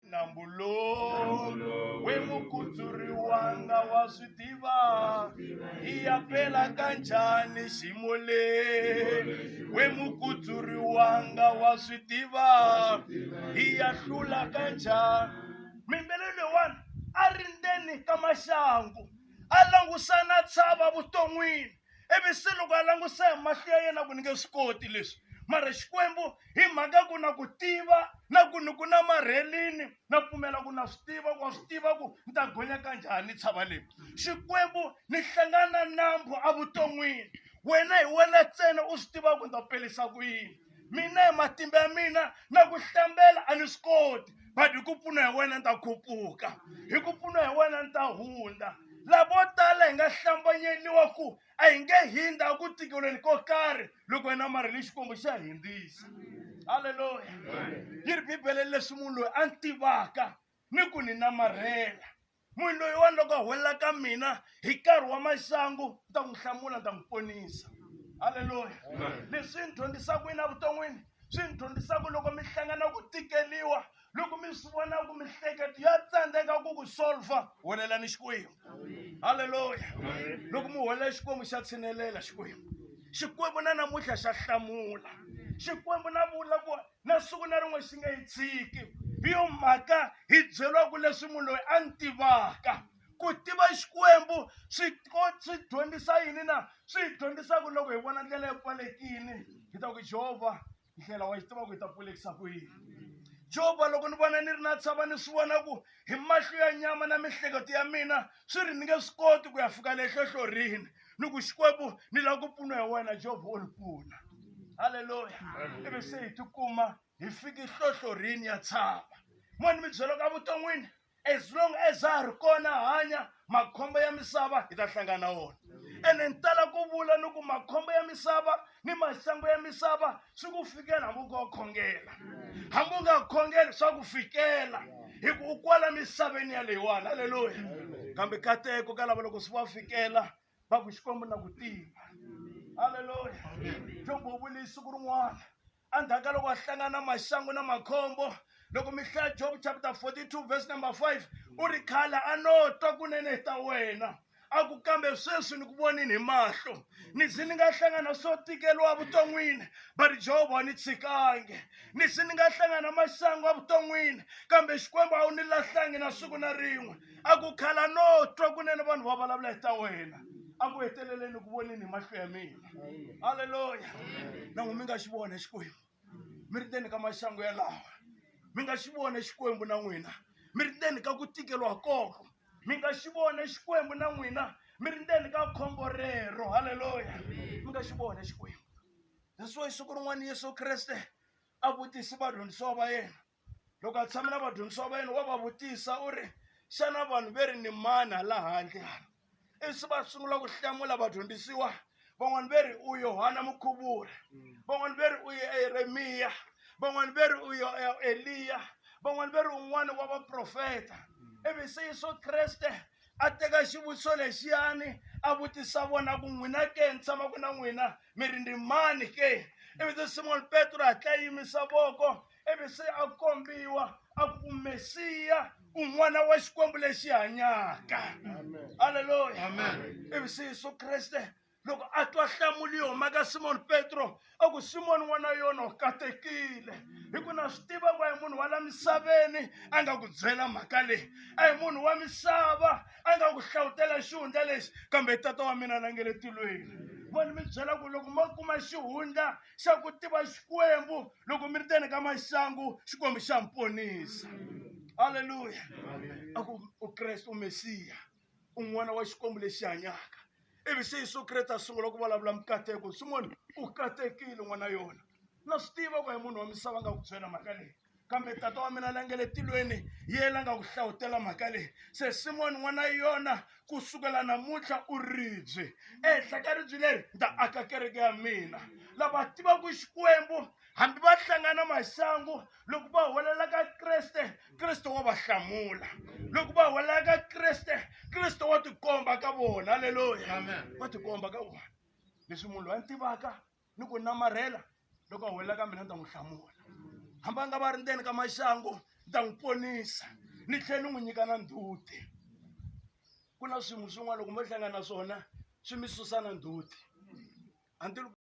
na mbulo we mukuturi wanga wa swi tiva i ya pela ka njhani ximo le we mukuturi wanga wa swi tiva i ya hlula ka njhani mimbele leyiwani a ri ndzeni ka maxangu a langusana tshava vuton'wini ivi se loko a languse hi mahlo ya yena ku ni nge swi koti leswi mara xikwembu hi mhaka ku na ku tiva na ku ni ku na marhelini na pfumela ku na swi tiva ku wa swi tiva ku ni ta gonya ka njhani tshava leyi xikwembu ni hlangana nambu evuton'wini wena hi wena ntsena u swi tivaka ku ni ta pelisa ku yini mina hi matimba ya mina na ku hlambela a ni swi koti but hi ku pfuna hi wena ni ta khuphuka hi ku pfuna hi wena ni ta hundza lavo tala hi nga hlambanyeliwa ku a hi nge hindza ku tikelweni ko karhi loko hi na mari ni xikwembu xa hindzisa halleluya yi ri bibele leswi munhu loyi a ni tivaka ni ku ni namarhela munhu loyiwani loko a huwelela ka mina hi nkarhi wa maxangu ni ta n'wi hlamula ni ta n'wi ponisa halleluya leswi ni dyondzisaka yini evuton'wini swi ni dyondzisaka loko mi hlangana ku tikeliwa loko mi swi vona ku mihleketo ya tsandzeka ku ku solva welelani xikwembu halleluya loko mi huwelela xikwembu xa tshinelela xikwembu xikwembu na namuntlha xa hlamula xikwembu na vula ku na siku na rin'we xi nge yi tshiki hi yo mhaka hi byeriwaku leswi munhu loyi a ni tivaka ku tiva xikwembu swi swi dyondzisa yini na swi hi dyondzisa ku loko hi vona ndlela yi pfalekini hi ta ku jehovha ndlela wa yi tiva ku hi ta pfulekisa ku yini jehovha loko ni vona ni ri na tshava ni swi vona ku hi mahlo ya nyama na mihleketo ya mina swi ri ni nge swi koti ku ya fika le hlohlorini loko xikwembu ni lava ku pfuna hi wena jehova wo ni pfuna halleluya ivi se hi tikuma hi fiki hlohlorini ya tshava mani mi byela ka vuton'wini as long as a ha ri kona hanya makhombo ya misava hi ta hlangana wona ene ni tala ku vula ni ku makhombo ya misava ni maxangu ya misava swi ku fikela hambi u nga khongela hambi u nga khongeli swa ku fikela hi ku u kwala misaveni yaleyiwani halleluya kambe kateko ka lava loko swi va fikela va ku xikwembu na ku tiva halleluya jobo u vule siku rin'wana endzhaku ka loko a hlangana na maxangu na makhombo loko mi hlaya job chapter 42 verse number 5 u ri khale a no twa kunene ta wena a ku kambe sweswi ni ku vonini hi mahlo ni ze ni nga hlangana swo tikeriwa vuton'wini but jehova ni tshikange ni ze ni nga hlangana masangu a vuton'wini kambe xikwembu a wu ni lahlangi na siku na rin'we a ku khala no twa kunene vanhu va vulavula hi ta wena a ku heteleleni ku vonini hi mahlo ya mina halleluya na n'wi mi nga xi vona xikwembu mi ri ndzeni ka maxangu yalawa mi nga xi vona xikwembu na n'wina mi ri ndzeni ka ku tikeriwa koko mi nga xi vona xikwembu na n'wina mi ri ndzeni ka khombo rero halleluya mi nga xi vona xikwembu that's why siku rin'wana yesu kreste a vutise vadyondzisiwa va yena loko a tshame na vadyondzisiwa va yena wa va vutisa u ri xana vanhu ve ri ni mani hala handle hala ivi va sungula ku hlamula vadyondzisiwa van'wani ve ri u yohana mukhuvuri van'wani ve ri u yeremiya van'wani ve ri u eliya van'wani ve ri un'wana wa vaprofeta ivi se yesu kreste a teka xivutiso lexiyani a vutisa vona ku n'wina ke ni tshamaka na n'wina mi ri ni mani ke ivi se simoni petro hatla yimisa voko ivi se a kombiwa a ku mesiya u n'wana wa xikwembu lexi hanyaka halleluya ivi se yesu kreste loko a twa hlamuli yo maka simoni petro a ku simoni n'wana yona u katekile hi ku na swi tiva ku a hi munhu wa la misaveni a nga ku byela mhaka leyi a hi munhu wa misava a nga ku hlawutela xihundla lexi kambe tata wa mina la nge le tilweni voni mi byela ku loko mo kuma xihundla xa ku tiva xikwembu loko mi ri teni ka maxangu xikwembu xa mi ponisa halleluya a ku u kreste u mesiya un'wana wa xikwembu lexi hanyaka ivi se yesu kreste a sungula ku vulavula mikateko simoni u katekile n'wana yona na swi tiva ku hi munhu wa misava nga ku byela mhaka leyi kambe tata wa mina la nge le tilweni ye la nga ku hlavutela mhaka leyi se simoni n'wana yona ku sukela namuntlha u ribye ehenhla ka ribye leri ni ta aka kereke ya mina lava tivaka xikwembu hambi va hlangana masangu loko va huwelela ka kreste kreste wa va hlamula loko va huwelela ka kreste kreste wa tikomba ka vona halleluya wa tikomba ka vona leswi munhu loyi a ni tivaka ni ku namarhela loko a huwelela ka mina ni ta n'wi hlamula hambi a nga va ri ndzeni ka maxangu ni ta n'wi ponisa ni tlhela ni n'wi nyika na ndzhuti ku na swin'we swin'wana loko mo hlangana na swona swi mi susa na ndzhuti